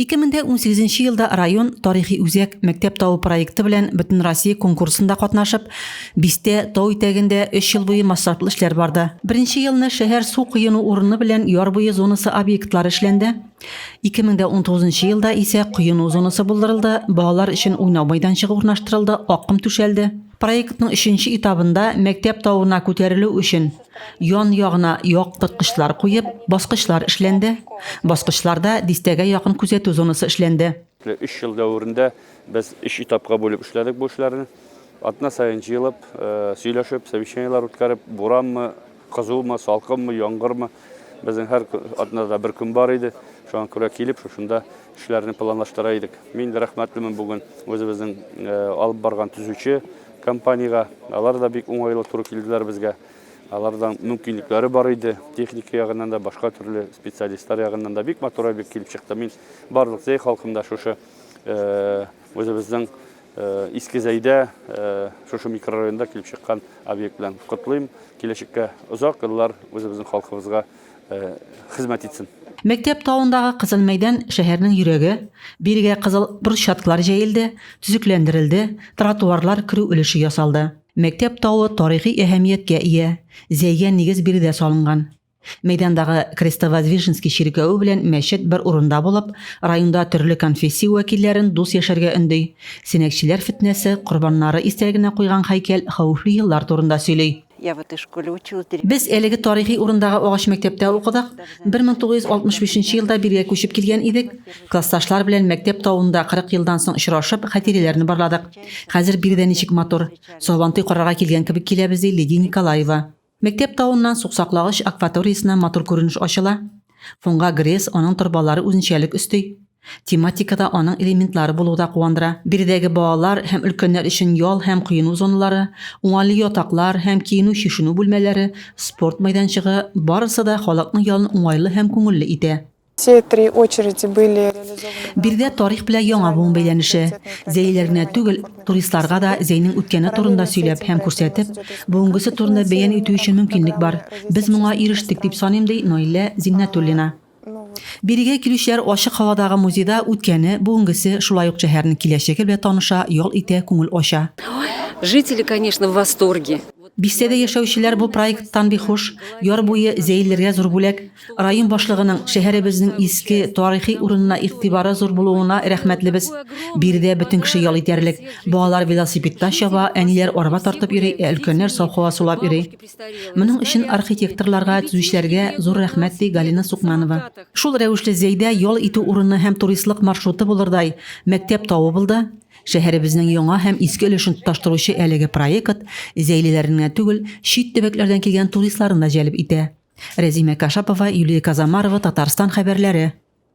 2018 елда район тарихи үзәк мәктәп тавы проекты белән Бөтенроссия конкурсында катнашып, бистә тау итәгендә 3 ел буе масштаблы эшләр барды. Беренче елны шәһәр су коену урыны белән яр буе зонасы объектлары эшләнде. 2019 елда исә коену зонасы булдырылды, балалар өчен уйнау майданчыгы урнаштырылды, акком түшәлде. Проектның өченче этабында мәктәп тавына күтәрелү өчен Ян ягына яктырткычлар куеп, баскычлар эшләнде. Баскычларда дистәгә якын күзәтү зонасы эшләнде. Өч ел дәверендә без өч этапка бүлеп эшләдек бу эшләрне. Атна саен җыелып, сөйләшеп, совещаниеләр үткәреп, буранмы, кызумы, салкынмы, яңгырмы, безнең һәр атнада бер көн бар иде. Шуңа күрә килеп, шушында Эшләрне планлаштыра идек. Мин дә рәхмәтлемен бүген үзебезнең алып барган төзүче компаниягә. Алар да бик уңайлы туры килделәр безгә. Алардан мөмкинлекләре бар иде. Техника ягыннан да, башка төрле специалистлар ягыннан да бик матур объект килеп чыкты. Мин барлык Зәй халкын да шушы үзебезнең Иске Зәйдә, шушы микрорайонда килеп чыккан объект белән котлыйм. Киләчәккә озак еллар үзебезнең халкыбызга хезмәт итсен. Мәктәп тавындагы кызыл мәйдан шәһәрнең йөрәге. Бирегә кызыл брусчаткалар җәелде, төзекләндерелде, тротуарлар, керү өлеше ясалды. Мәктәп тавы тарихи әһәмияткә ия, зәйгә нигез биредә салынган. Мәйдандагы Крестовоздвиженский чиркәве белән мәчет бер урында булып, районда төрле конфессия вәкилләрен дус яшәргә өнди. Сәнәкчеләр фетнәсе корбаннары истәлегенә куйган һәйкәл хәвефле еллар турында сөйли. Я в этой школе училась. Без әлеге тарихи урындагы агач мәктәптә укыдык. 1965 елда биргә күчеп килгән идек. Классташлар белән мәктәп тавында 40 елдан соң очрашып, хатирәләрне барладык. Хәзер биредә ничек матур. Сабантуй карарга килгән кебек киләбез, ди Лидия Николаева. Мәктәп тавыннан суксаклагыч акваториясенә матур күренеш ачыла. Фонга Гресс аның торбалары үзенчәлек өсти. Тематикада аның элементлары булуы да куандыра. Биредәге балалар һәм өлкәннәр өчен ял һәм коену зоналары, уңайлы ятаклар һәм киенү-чишенү бүлмәләре, спорт мәйданчыгы, барысы да халыкның ялын уңайлы һәм күңелле итә. Биредә тарих белән яңа буын бәйләнеше. Зәйлеләр генә түгел, Туристларга да Зәйнең үткәне турында сөйләп һәм күрсәтеп, бүгенгесе турында бәян итү өчен мөмкинлек бар. Без моңа ирештек, дип саныйм, ди Наилә Зиннәтуллина. Бирегә килүчеләр ачык һавадагы музейда үткәне, бүгенгесе, шулай ук шәһәрнең киләчәге белән таныша, ял итә, күңел ача. Жители, конечно, в восторге. Бистәдә яшәүчеләр бу проекттан бик хуш. Яр буе Зәйлеләргә зур бүләк. Район башлыгының шәһәребезнең иске, тарихи урынына игътибары зур булуына рәхмәтлебез. Биредә бөтен кеше ял итәрлек. Балалар велосипедта чаба, әниләр арба тартып йөри, ә өлкәннәр саф һава сулап йөри. Моның өчен архитекторларга, төзүчеләргә зур рәхмәт, ди Галина Сукманова. Шул рәвешле Зәйдә ял итү урыны һәм туристлык маршруты булырдай мәктәп табып булды. Шәһәребезнең яңа һәм иске өлешен тоташтыручы әлеге проект зәйлеләрне генә түгел, чит төбәкләрдән килгән туристларны да җәлеп итә. Рәзимә Кашапова, Юлия Казамарова, Татарстан хәбәрләре.